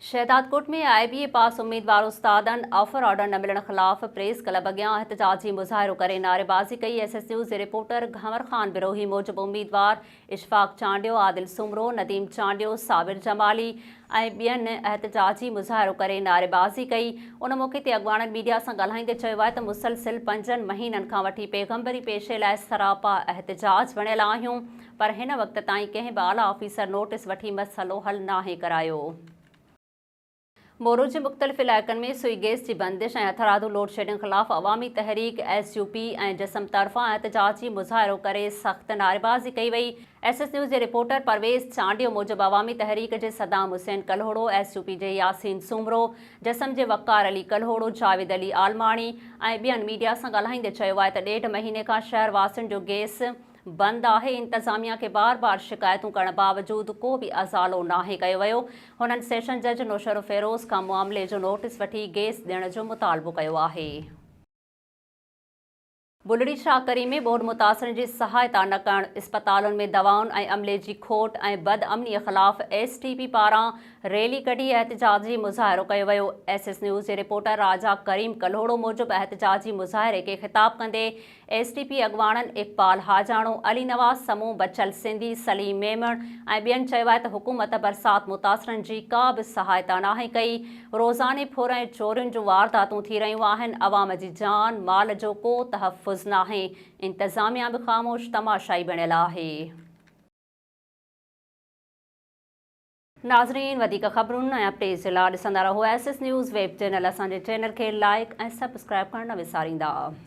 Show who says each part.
Speaker 1: Shahdadkot ۾ I B A pass اميدوار استادن offer order نه ملڻ خلاف پريس ڪلب اڳيان احتجاجي مظاهرو ڪري نعريبازي ڪئي ايس ايس نيوز جي رپورٽر گهنور خان بروهي موجب اميدوار اشفاق چانڊيو عادل سومرو نديم چانڊيو صابر جمالي ۽ ٻين احتجاجي مظاهرو ڪري نعريبازي ڪئي ان موقعي تي اڳواڻن ميڊيا سان ڳالهائيندي چيو آهي ته مسلسل پنجن مهينن کان وٺي پيغمبري پيشي لاء سراپا احتجاج وڻيل آهيون پر هن وقت تائين ڪنهن به اعليٰ آفيسر نوٽيس وٺي مسئلو حل ناهي ڪرايو. مورو جي مختلف علائقن ۾ سوئي گيس جي بندش ۽ هٿرادو لوڊشيڊنگ خلاف Awami Tehreek, S U P, ۽ جسم طرفان احتجاجي مظاهرو ڪري سخت نعريبازي ڪئي وئي. ايس ايس نيوز جي رپورٽر پرويز چانڊيو موجب عوامي تحريڪ جي Saddam Hussain Kalhoro, S U P جي ياسين سومرو، جسم جي وقار علي ڪلهوڙو، جاويد علي عالماڻي ۽ ٻين ميڊيا سان ڳالهائيندي چيو آهي ته ڏيڍ مهيني کان شهر واسين جو گيس بند آهي، انتظاميا کي بار بار شڪايتون ڪرڻ باوجود ڪو به ازالو ناهي ڪيو ويو، هنن سيشن جج نوشهرو فيروز کان معاملي جو نوٽيس وٺي گيس ڏيڻ جو مطالبو ڪيو آهي. بلڙي شاهه ڪري ۾ ٻوڏ متاثرن جي سهائتا نه ڪرڻ، اسپتالن ۾ دوائن ۽ عملي جي کوٽ ۽ بد امني خلاف ايس ٽي پي پاران ريلي ڪڍي احتجاجي مظاهرو ڪيو ويو ايس ايس نيوز جي رپورٽر راجا ڪريم ڪلهوڙو موجب احتجاجي مظاهري کي خطاب ڪندي ايس ٽي پي اڳواڻن اقبال حاجاڻو، علي نواز سمون، بچل سنڌي، سليم ميمڻ ۽ ٻين چيو آهي ته حڪومت برسات متاثرن جي ڪا به سهائتا ناهي ڪئي، روزاني ڦر ۽ چورين جون وارداتون ٿي رهيون آهن، عوام جي جان مال جو ڪو تحفظ ناهي، انتظاميا به خاموش تماشائي بڻيل آهي. ناظرين وڌيڪ خبرن ۽ اپڊيٽس جي لا ڏسندا رهو S S news web channel اسان جي چينل کي لائيڪ ۽ سبسڪرائيب ڪرڻ نه وساريندا.